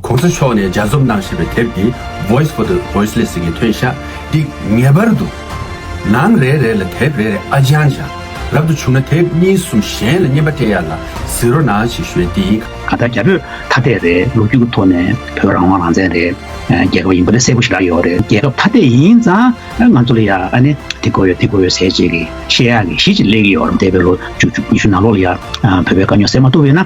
གོང་ས་མཆོག་ནས་སྦྱར་རྩོམ་གནང་ཞེས་པའི་དེབ་འདི Voice for the Voiceless གི་ཐོན་ཤག་འདི་ངེས་པར་དུ་ནང་རེ་རེ་ལ་དེབ་རེ་རེ་ཨ་ཅང་ཅང་རབ་ཏུ་བྱུང་ན་དེབ་གཉིས་གསུམ་གཞན་ལ་བསྙེན་པ་སྤྲད་ཡ་ལ་ཟིག་རོ་ནང་ཞིག་ཞོལ་འདི། གང་ལྟར་རྒྱ་བོད་ཐ་དད་རེད་ལོ་རྒྱུས་ཀྱི་ཐོག་ནས་བོད་རང་དབང་རང་བཙན་རེད་རྒྱལ་ཁབ་ཡིན་པ་ལས་གསལ་པོ་ཞིག་རག་ཡོད་རེད་རྒྱལ་ཁབ་ཐ་དད་ཡིན་ཙང་ང་ཚོ་ལ་ཡ་ཨ་ནི་དེ་དགོས་ཡོད་དེ་དགོས་ཡོད་ཟེར་བྱེད་ཀྱི་ཤེས་ཡག་གི་གཞི་ཅིག་སླེབས་ཀྱི་ཡོད་རེད་འདས་པའི་ལོ་བཅུ་བཅུ་ཉི་ཤུ་ནང་ལོགས་ལ་ཡ་ཕོད་པའི་དཀའ་རྙོག་སེལ་མ་ཐུབ་ཡོད་ན།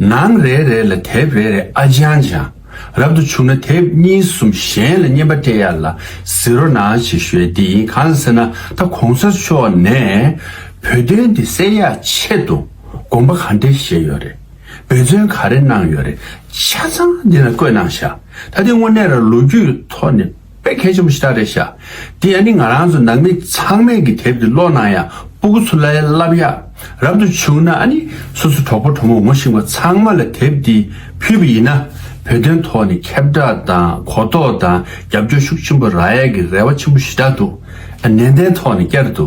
ནང་རེ་རེ་ལ་དེབ་རེ་རེ་ཨ་ཅང་ཅང་རབ་ཏུ་བྱུང་ན་དེབ་གཉིས་གསུམ་གཞན་ལ་བསྙེན་པ་སྤྲད་ཡ་ལ་ཟི་རོ་ནང་བྱེད་ཤོད་དེ་ཡིན་གང་ཟེར་ན་ད་གོང་ས་མཆོག་ནས་བོད་དོན་འདི་སེལ་ཡ་ཆེད་དུ་དགོངས་པ་ག་འདྲེ་བཞེས་ཡོད་རེད་འབད་བརྩོན་ག་རེ་གནང་ཡོད་རེད་ཆ་ཚང་འདི་ན་བཀོད་གནང་ཤག་ད་འདི་དངོས་གནས་ར་ལོ་རྒྱུས་ཐོག་ནས། པའི་ཁལ་ཆེན་པོ་ཞིག་ཏག་ཏག་བཞག། དེ་ཡང་ནི་ང་རང་ཚོ་ནང་མི་ཚང་མས་གི་དེབ་དེ་ཀློག་ནང་ཡང་སྤུ་གུ་ཚུར་ལ་བསླབ་ཡག་རབ་ཏུ་བྱུང་ན་ཨ་ནི་སོ་སོ་གྲོགས་པོ་གྲོགས་མོ་ངོ་ཤེས་པ་ཚང་མ་ལ་དེབ་དེ་ཕུལ་བ་ཡིན་ན་བོད་དོན་ཐོག་ནས་ཁྱབ་བསྒྲགས་དང་གོ་རྟོགས་དང་རྒྱབ་སྐྱོར་ཤུགས་ཆེན་པོ་རག་ཡག་གི་རེ་བ་ཆེན་པོ་ཞིག་དྲག་འདུག་ཨ་ནན་ཏན་ཐོག་ནས་བསྐྱར་དུ་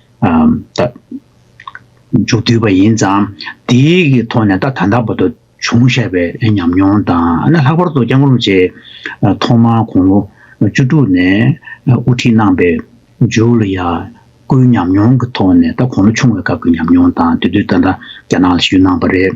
མཇུག་བསྡུས་པ་ཡིན་ཙང་དེ་ཡི་ཐོག་ནས་ད་ལྟ་བར་དུ་བྱུང་བཞག་པའི་ཉམས་མྱོང་དང་ལྷག་པར་དུ ྋསྐྱབས་མགོན་རིན་པོ་ཆེས་ཐོག་མར་དགུང་ལོ་བཅུ་དྲུག་ནས་དབུ་ཁྲིད་གནང་པའི་ཇོ་ལ་ཡ་ཀོའི་ཉམས་མྱོང་གི་ཐོག་ནས་ད་གོང་ལོ་ཆུང་བའི་སྐབས་ཀྱི་ཉམས་མྱོང་དང་དེ་དུས་ད་ལྟ་རྒྱ་ནག་ལ་ཞུས་གནང་བ་རེད།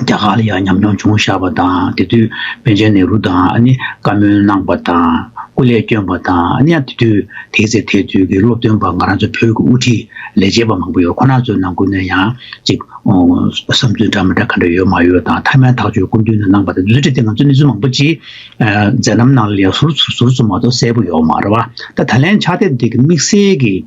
རྒྱ་གར་ལ་ཡང་ཉམས་མྱོང་བྱུང་བཞག་པ་དང་དེ་དུས་པཎ་ཆེན་ནེ་རུ་དང་བཀའ་མོལ་གནང་པ་དང་སྐུ་ལས་བསྐྱོན་པ་དང་ཡང་དེ་དུས་དེའི་ཚེ་དེ་དུས་ཀྱི་སློབ་སྟོན་པ་ང་རང་ཚོ་བོད་ཀྱི་དབུ་ཁྲིད་ལས་བྱེད་པ་མང་པོ་ཡོད་ཁོ་ན་ཚོའི་ནང་ཁུལ་ན་ཡང་ཅིག་བསམ་ཚུལ་འདྲ་མི་འདྲ་ག་འདྲ་ཡོད་མ་ཡོད་དང་ཐ་མའི་ཐག་གཅོད་སྐུ་མདུན་ནས་གནང་པ་དང་མཛུབ་ཁྲིད་དེ་ང་ཚོ་གནས་ཚུལ་མང་པོ་ཅིག་མཛད་རྣམ་ནང་ལས་ཟུར་ཟུར་ཚོ་མ་གཏོགས་གསལ་པོ་ཡོད་མ་རེད་བ་ད་ད་ལན་ཕྱག་དེབ་འདི་གི་དམིགས་བསལ་གྱི་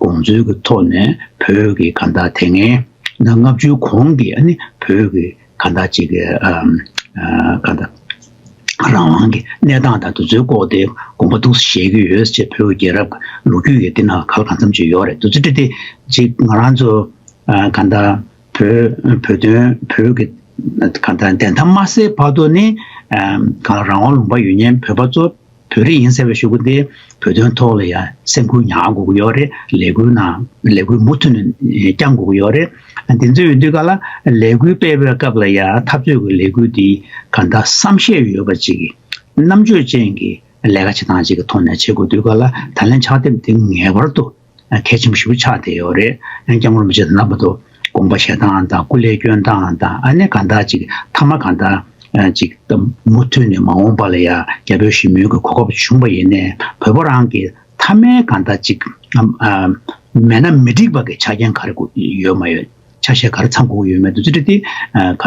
དགོངས་ཚུལ་གྱི་ཐོག་ནས་བོད་ཀྱི་གང་དག་དེ་སྔའི་ལྔ་བཅུའི་གོང་གི་བོད་ཀྱི་གང་དག་ཅིག་གི་གང་དག་རང་དབང་གི་གནས་སྟངས་དང་དུས་ཚོད་བཀོག་སྟེ་དགོངས་པ་གཏུགས་སུ་བཞེས་ཀྱི་ཡོད་ཅེས་བོད་རྒྱལ་རབས་ཀྱི་ལོ་རྒྱུས་ཀྱི་འདི་ན་ག་ལ་གང་འཚམས་ཅིག་ཡོད་རེད་འདུག་ཚུལ་ཁྲིམས་དེ་ཅིག་ང་རང་ཚོ་གང་དག་བོད་བོད་དོན་བོད་ཀྱི་གང་དག་བདེན་མཐའ་མ་གསལ་བར་དུ་ནི་གང་རང་དབང་ལུང་པ་ཡོད་ཉེན་བོད་པ་ཚོ། བོད་རིགས་ཡིན་ཟེར་བའི་ཤོད་གུ་དེ་བོད་དོན་ཐོག་ལ་ཡང་སེམས་ཁུར་ཉག་དགོས་ཀྱི་ཡོད་རེད་ལས་འགུལ་ནང་ལས་འགུལ་མུ་མཐུད་ནས་བསྐྱང་དགོས་ཀྱི་ཡོད་རེད་དེ་ཚོའི་དུས་ག་ལ་ལས་འགུལ་སྤེལ་བའི་སྐབས་ལ་ཡང་འཐབ་རྩོད་ཀྱི་ལས་འགུལ་འདི་ག་འདྲ་བསམ་ཤེས་ཡོད་པ་ཅིག་རྣམ་དཔྱོད་ཅན་གྱི་ལས་ཀ་བྱེད་སྟངས་ཅིག་གི་ཐོག་ནས་བྱེད་དགོས་དུས་ག་ལ་ད་ལན་ཕྱག་དེབ་འདི་ངེས་པར་དུ། ཁད་ཆེན་པོ་ཞིག་ཆགས་བསྡད་ཡོད་རེད། ཡང་སྐྱབས་མགོན་རིན་པོ་ཆེ་དང་ལྷག་པར་དུ་དགོངས་པ་བཞེས་སྟངས་དང་སྐུ་ལས་བསྐྱོན་སྟངས་དང་ཨ་ནེ་གང་དག་ཅིག་མཐའ་མ་གང་དག་ཅིག་ད་མུ་མཐུད་ནས་མ་འོངས་པ་ལ་ཡང་རྒྱ་བོད་ཞི་མོལ་གྱི་གོ་སྐབས་བྱུང་བ་ཡིན་ནས་བོད་པ་རང་གི་མཐའ་མའི་གང་དག་ཅིག་མེད་ན་མི་འགྲིག་པ་གི་ཆ་རྐྱེན་ག་རེ་ཡོད་མ་ཡོད། ཆ་ཤས་གར་ཚང་གོང་ཡོད་མེད་དུ་ཅི་འདྲ་དེ་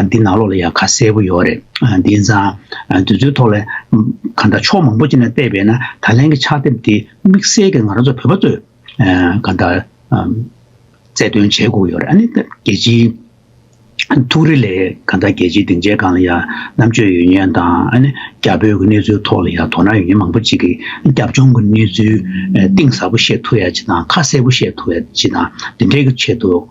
འདི་ནང་ལོགས་ལ་ཡང་ཁ་གསལ་པོ་ཡོད་རེད་དེ་ཚང་དེ་ཚོའི་ཐོག་ལ་གང་འདྲ་ཕྱོགས་མང་པོ་ཅི་ནས་བལྟས་པས་ན་ད་ལན་གྱི་ཕྱག་དེབ་དེ་དམིགས་བསལ་གྱི་ང་རང་ཚོ་བོད་པ་ཚོས་གང་འདྲ་རྩད་དོན་བྱེད་དགོས་ཡོད་རེད་ཨ་ནི་རྒྱལ་སྤྱིའི་ཐུགས་རེ་ལས་གང་འདྲ་རྒྱལ་སྤྱིའི་སྡིངས་ཆའི་སྒང་ལ་ཡང་རྣམ་དཔྱོད་ཡོད་ཉེན་དང་ཨ་ནི་རྒྱ་བོད་ཀྱི་གནས་ཚུལ་ཐོག་ལ་ཡང་དོ་སྣང་ཡོད་ཉེན་མང་པོ་ཅིག་གིས་རྒྱབ་ལྗོངས་ཀྱི་གནས་ཚུལ་གཏིང་ཟབ་པོ་ཤེས་ཐུབ་ཡ་ཅི་དང་ཁ་གསལ་པོ་ཤེས་ཐུབ་ཡ་ཅི་དང་འདི་འདྲའི་ཆེད་དུ།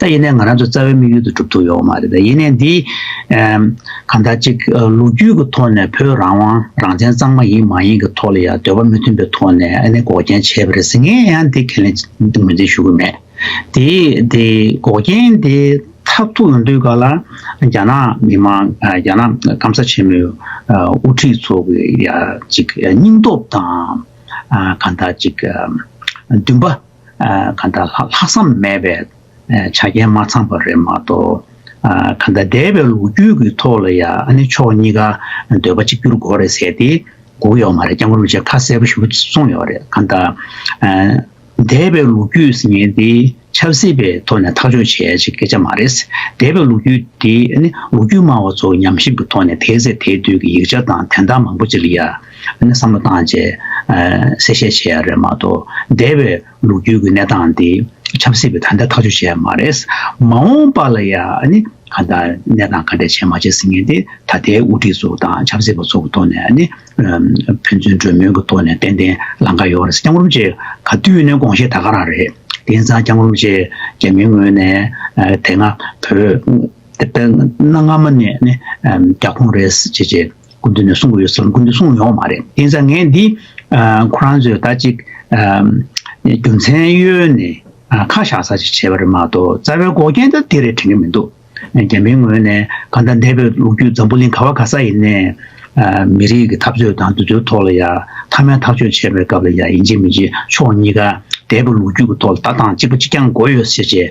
ད་ཡིན་ནས་ང་རང་ཚོ་རྩ་བའི་དམིགས་ཡུལ་དུ་གྲུབ་ཐུབ་ཡོད་མ་རེད་དེ་ཡིན་ནས་འདི་གང་ལྟར་ཅིག་ལོ་རྒྱུས་ཀྱི་ཐོག་ནས་བོད་རང་དབང་རང་བཙན་གཙང་མ་ཡིན་མ་ཡིན་གྱི་ཐོག་ལ་ཡང་འདོད་པ་མི་མཐུན་པའི་ཐོག་ནས་ཨ་ནེ་འགོག་རྐྱེན་བྱས་པ་རེད་ཟེར་ངས་ཡང་འདི་ཁས་ལེན་ངོས་འཛིན་ཞུ་གི་མེད་དེ་དེ་འགོག་རྐྱེན་དེ་མཐར་ཐུག་ཡོང་དུས་ག་ལ་རྒྱ་ནག་མི་མང་རྒྱ་ནག་སྐམ་ས་ཆེན་མོའི་དབུ་ཁྲིད་ཚོ་གི་ཡང་ཅིག་སྙིང་སྟོབས་དང་གང་ལྟར་ཅིག་འདུན་པ། གང་དག་ལྷག་བསམ་མེད་པས་བྱ་རྒྱལ་མ་ཚང་བ་རེད་མ་གཏོགས། གང་དག་འདས་པའི་ལོ་རྒྱུས་ཀྱི་ཐོག་ལ་ཡང་ནི་ཕྱོགས་གཉིས་ཀ་འདོད་པ་གཅིག་གྱུར་དགོས་རེད་ཟེར་ཏེ་སྒུག་ཡོད་མ་རེད་སྐྱབས་མགོན་པོ་ཆེ་ཁ་གསལ་པོ་ཞུ་གསུངས་ཡོད་རེད་གང་དག། འདས་པའི་ལོ་རྒྱུས་ཟེར་ཉེན་དེ་ཆབ་སྲིད་པའི་ཐོག་ནས་ཐག་གཅོད་བྱེད་ཅིག་སྐད་ཆ་མ་རེད། འདས་པའི་ལོ་རྒྱུས་དེ་ནི་ལོ་རྒྱུས་སྨྲ་བ་ཚོ་ཉམས་ཞིབ་ཀྱི་ཐོག་ནས་དེའི་ཚེ་དེའི་དུས་ཀྱི་ཡིག་ཆ་དང་དན་རྟགས་མང་པོ་ཅིག་ལ་ཡ། ཨ་ནི་བསམ་བློ་བཏང་རྗེས་གསལ་བཤད་བྱས་ཡ་རེད་མ་གཏོགས་འདས་པའི་ལོ་རྒྱུས་ཀྱི་གནས་སྟངས་འདི་ཆབ་སྲིད་པའི་ད་ལྟ་ཐག་གཅོད་བྱས་ཡ་མ་རེད། མ་འོངས་པ་ལ་ཡ་ཨ་ནི་ག་ད་གནས་སྟངས་ག་འདྲས་བྱས་མ་བྱས་ཟིན་མཁན་དེ་ད་ལྟའི་དབུ་ཁྲིད་ཚོ་དང་ཆབ་སྲིད་པ་ཚོ་གི་ཐོག་ནས་ཨ་ནི་ཕན་ཚུན་གྲོས་མོལ་གྱི་ཐོག་ནས་ཏན་ཏན་ལང་ཀ་ཡོད་རེད་སྐྱང་རུམ་ཅེས་ག་དུས་ནས་དགོངས་བཞེས་ད་ག་རང་རེད་དེ་ཡིན་ཙང་སྐྱང་རུམ་ཅེས་རྒྱ་མིའི་ངོས་ནས་དེ་སྔ་བོད་ནང་སྔ་མ་ནས་ཨ་ནི་རྒྱ་ཁོངས་རེད་ཟེར་ཅེས་སྐུ་མདུན་ནས་གསུང་གི་ཡོད་ཟེར་སྐུ་མདུན་གསུང་ཡོང་བ་མ་རེད་དེ་ནས་ངས་འདི་ཁོ་རང་ཚོས་ད་ཅིག་རྒྱུ་མཚན་གཡོལ་ནས་ཁ་བཞག་ས་ཅིག་བྱས་པ་རེད་མ་གཏོགས་རྩ་བའི་འགོག་རྐྱེན་ད་དེ་རེད་དྲན་གི་མི་འདུག་རྒྱ་མིའི་ངོས་ནས་གང་ལྟར་འདས་པའི་ལོ་རྒྱུས་འཛམ་བུ་གླིང་ག་བ་ག་ས་ཡིན་ནས་མི་རིགས་ཀྱི་འཐབ་རྩོད་དང་འདུ་འཛོའི་ཐོག་ལ་ཡ་མཐའ་མའི་ཐག་གཅོད་བྱས་པའི་སྐབས་ལ་ཡ་ཡིན་བྱེད་མི་བྱེད་ཕྱོགས་གཉིས་ཀ་འདས་པའི་ལོ་རྒྱུས་ཀྱི་ཐོག་ལ་ལྟ་སྟངས་གཅིག་པ་གཅིག་རྐྱང་འགོ་ཡོད་ཟེར་བྱས་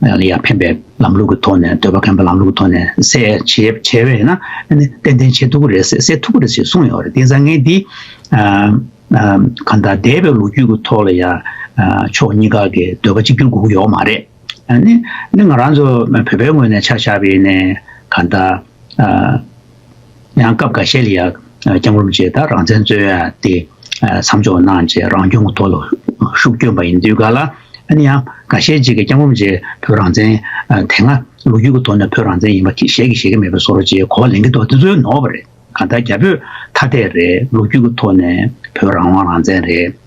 ལ་ཡང་ཕན་པའི་ལམ་ལུགས་ཀྱི་ཐོག་ནས་འདོད་པ་ཁེངས་པའི་ལམ་ལུགས་ཀྱི་ཐོག་ནས་གསལ་བྱེད་བྱས་པས་ན་ཏན་ཏན་བྱེད་ཐུབ་ཀྱི་རེད་གསལ་ཐུབ་ཀྱི་རེད་ཅེས་གསུངས་ཡོད་རེད་དེང་སང་ངས་འདི་གང་ལྟར་འདས་པའི་ལོ་རྒྱུས་ཀྱི་ཐོག་ལ་ཡང་ཕྱོགས་གཉིས་ཀ་གི་འདོད་པ་གཅིག་གྱུར་དགོས་ཀྱི་ཡོད་མ་རེད། ནི་ང་རང་ཚོ་བོད་པའི་ངོས་ནས་ཆ་བཞག་པས་ནས་གང་ལྟར། ཡང་སྐབས་འགའ་ཤས་ལ་ཡང་རྐྱང་རུམ་བཅས་དང་རང་བཙན་རྩོད་ཡ་དེ་མཚམས་འཇོག་གནང་རྗེས་རང་སྐྱོང་གི་ཐོག་ལ་ཤུགས་བསྐྱོན་པ་ཡིན་དུས་འགའ་ལ་ནི་ཡང་འགའ་ཤས་ཅིག་གིས་རྐྱང་རུམ་བཅས་བོད་རང་བཙན་དེ་སྔ་ལོ་རྒྱུས་ཀྱི་ཐོག་ནས་བོད་རང་བཙན་ཡིན་པ་གཞལ་གྱི་ཤེས་ཀྱི་མེད་པ་བཟོ་རོགས་ཅེས་གོ་བ་ལེན་གྱི་འདུག་དེ་ཚོའི་ནོར་བ་རེད་གང་ལྟར་རྒྱ་བོད་ཐ་དད་རེད་ལོ་རྒྱུས་ཀྱི་ཐོག་ནས་བོད་རང་དབང་རང་བཙན་རེད།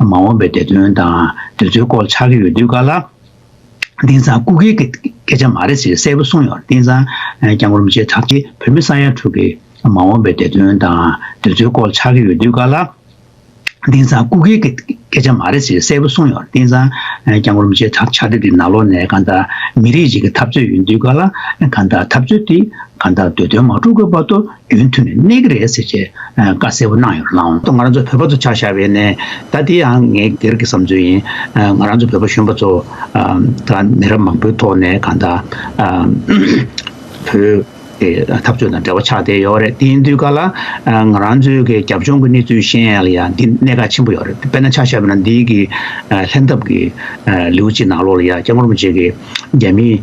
མ་འོངས་པའི་བདེ་དོན་དང་དུས་ཚོད་སྐོར་ཆགས་ཀྱི་ཡོད་དུས་ཀ་ལ་དེང་སང་སྐུ་སྒེར་གྱི་སྐད་ཆ་མ་རེད་ཟེར་གསལ་པོ་གསུངས་ཡོང་དེང་སང་ཀྱང་རུམ་བྱེད་ཐབས་ཀྱི་བོད་མི་ས་ཡ་དྲུག་གི་མ་འོངས་པའི་བདེ་དོན་དང་དུས་ཚོད་སྐོར་ཆགས་ཀྱི་ཡོད་དུས་ཀ་ལ་དེང་སང་སྐུ་སྒེར་གྱི་སྐད་ཆ་མ་རེད་ཟེར་གསལ་པོ་གསུངས་ཡོང་དེང་སང་ཀྱང་རུམ་བྱེད་ཐབས་ཆགས་དུས་ནག་ལོག་ནས་གང་ལྟར་མི་རིགས་ཤིག་གི་འཐབ་རྩོད་ཡོད་དུས་ཀ་ལ་གང་ལྟར་འཐབ་རྩོད་དེ་གང་ལྟར་བདེ་དོན་མ་འཁྲུག་དགོས་པ་དོ་རྒྱུན་ཐུང་ནས་གནས་ཀྱི་རེད་ཟེར་ཞེས་བཀའ་གསལ་བོ་གནང་ཡོད་ལ། ང་རང་ཚོ་བོད་པ་ཚོ་ཆགས་བཞག་བས་ནས་ད་དེ་ཡང་ངའི་སྒེར་གྱི་བསམ་ཚུལ་ཡིན། ང་རང་ཚོ་བོད་པ་གཞོན་པ་ཚོ་ད་མི་རབས་མང་པོའི་ཐོག་ནས་གང་ལྟར་བོད་ཀྱི་འཐབ་རྩོད་དང་འབྲེལ་བ་ཆགས་བསྡད་ཡོད་རེད་དེ་དུས་ཀ་ལ་ང་རང་ཚོའི་གི་རྒྱབ་ལྗོངས་ཀྱི་གནས་ཚུལ་ཤེས་ཡང་ཡང་འདི་གནད་འགག་ཆེན་པོ་ཡོད་རེད་དཔེར་ན་ཆགས་བཞག་བས་ན་འདི་གི་ལྷན་ཐབས་ཀྱི་ལེའུ་གཅིག་ནང་ལོགས་ལ་ཡང་སྐྱབས་མགོན་རིན་པོ་ཆེ་གིས་རྒྱ་མིའི།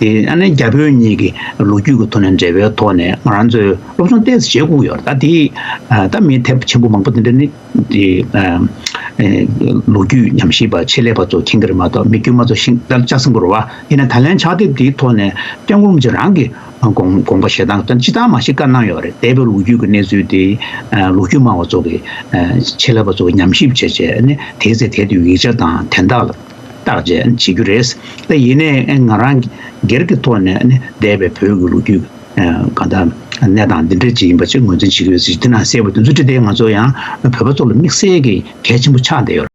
དེ་ཡང་ན་རྒྱ་བོད་གཉིས་ཀྱི་ལོ་རྒྱུས་ཀྱི་ཐོག་ནས་འབྲེལ་བའི་ཐོག་ནས་ང་རང་ཚོས་སློབ་སྦྱོང་བལྟས་ཟེར་བྱེད་བསྐུར་ཡོད་རེད་ད་དེས་ད་མི་ཐེབས་ཆེན་པོ་མང་པོ་དེ་འདྲ་ནི་དེ་ལོ་རྒྱུས་ཉམས་ཞིབ་པ་ཆེད་ལས་པ་ཚོ་མཁྱེན་གྱི་རེད་མ་གཏོགས་མི་དཀྱུས་མ་ཚོ་ཤིང་རྟ་ལྕགས་སྲིན་པོ་རུ་བ་དེ་ནས་ད་ལན་ཕྱག་དེབ་དེའི་ཐོག་ནས་སྐྱབས་མགོན་རིན་པོ་ཆེ་རང་གི་དགོངས་པ་བཞེས་སྟངས་ཅི་ཙམ་མ་ཞིག་བཀའ་གནང་ཡོད་རེད་འདས་པའི་ལོ་རྒྱུས་ཀྱི་གནས་ཚུལ་དེ་ལོ་རྒྱུས་སྨྲ་བ་ཚོ་གི་ཆེད་ལས་པ་ཚོ་ཉམས་ཞིབ་བྱེད་ཆེད་ནི་དེའི་ཚེ་དེ་དུས་ཡིག་ཆ་དང་དན་རྟགས་ལ། བརྟག་དཔྱད་བྱེད་རྒྱུ་རེད། དེ་ཡིན་ནའི་ང་རང་སྒེར་གྱི་ཐོག་ནས་ནི་འདས་པའི་བོད་ཀྱི་ལོ་རྒྱུས་གང་དག་གནས་སྟངས་འདི་འདྲ་ཅིག་ཡིན་པ་ཅིག་ངོས་འཛིན་བྱེད་ཀྱི་ཡོད་སྲིད་དེ་ན་གསལ་བོ་དེ་ཚོ་བྲིས་ཏེ་ང་ཚོ་ཡང་བོད་པ་ཚོ་ལ་དམིགས་བསལ་གྱི་གལ་ཆེན་པོ་ཆགས་བསྡད་ཡོད།